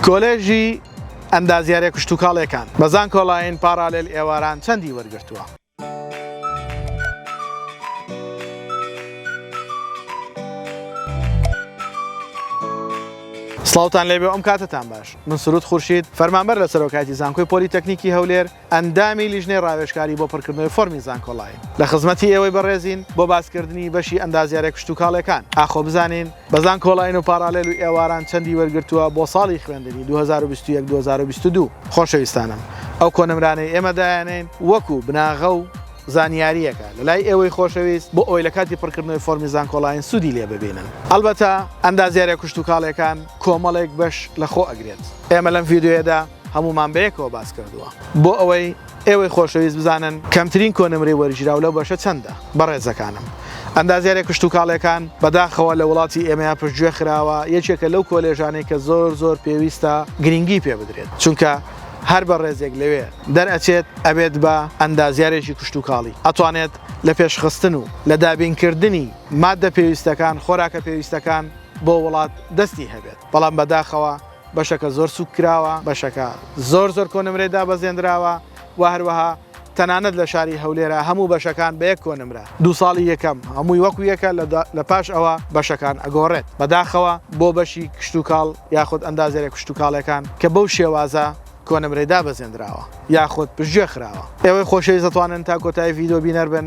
کۆلێژی ئەندازیاریە کشتوکاڵێکان بە زانکۆلاین پاڕالێل ئێواران چەندی وەرگرتووە؟ سڵاوتان لێبێ و ئەم کاتەتان باش من سرود خورشید فەرمانبەر لە سەرۆکایەتی زانکۆی پۆلیتەکنیکی هەولێر، ئەندامی لیژنەی ڕاوێژکاری بۆ پڕکردنەوەی فۆرمی زانکۆڵاین. لە خزمەتی ئێوەی بەڕێزین بۆ باسکردنی بەشی ئەندازیاریە کشتوکاڵێکان. ئاخۆ بزانین بە زانکۆڵاین و پاڕالێل و ئێواران چەندی وەرگرتووە بۆ ساڵی خوێندنی دوو هەزار و بیست و یەک دوو هەزار و بیست و دوو؟ خۆشەویستانم ئەو کۆنمرانەی ئێمە دایانێین وەکو بناغە و زانیاریەکە لە لای ئێوەی خۆشەویست بۆ ئەوەی لە کاتی پڕکردنەوەی فۆرمی زانکۆڵاین سوودی لێ ببینن. ئەڵبەتە ئەندازیاریە کشتوکاڵێکان کۆمەڵێک بەش لە خۆ ئەگرێت. ئێمە لەم ڤیدیۆیەدا. هەموومان بەیەکەوە باس کردووە. بۆ ئەوەی ئێوەی خۆشەویست بزانن کەمترین کۆنمرەی وەرگیراو لەو بەشە چەندە، بەڕێزەکانم ئەندازیاری کشتوکاڵیەکان بەداخەوە لە وڵاتی ئێمەیا پشتگوێ خراوە، یەکێکە لەو کۆلێژانەی کە زۆر زۆر پێویستە گرینگی پێ بدرێت، چونکە هەر بەڕێزێک لەوێ دەرئەچێت ئەبێت بە ئەندازیارێکی کشتوکاڵی، ئەتوانێت لە پێشخستن و لە دابینکردنی ماددە پێویستەکان، خۆراکە پێویستەکان بۆ وڵات دەستی هەبێت، بەڵام بەداخەوە بەشەکە زۆر سووک کراوە، بەشەکە زۆر زۆر کۆنمرەی دابەزێندراوە و هەروەها تەنانەت لە شاری هەولێرا هەموو بەشەکان بە یەک کۆنمرە دوو ساڵی یەکەم هەمووی وەکو یەکە لە پاش ئەوە بەشەکان ئەگۆڕێت بەداخەوە بۆ بەشی کشتوکاڵ یاخود ئەندازیارە کشتوکاڵێکان کە بەو شێوازە کۆنمرەی دابەزێندراوە یاخود پشتگوێ خراوە. ئێوەی خۆشەویست دەتوانن تا کۆتایی ڤیدیۆ بینەر بن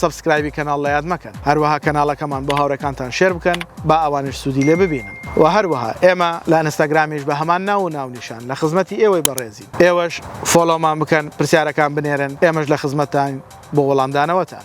سەبسکرایبی کەناڵ لەیاد مەکەن هەروەها کەناڵەکەمان بۆ هاوڕێکانتان شێر بکەن با ئەوانیش سودی لێ ببینن وە هەروەها ئێمە لە ئەنستاگرامیش بە هەمان ناو و ناونیشان لە خزمەتی ئێوەی بەڕێزین ئێوەش فۆڵۆمان بکەن پرسیارەکان بنێرن ئێمەش لە خزمەتتاین بۆ وەڵامدانەوەتان.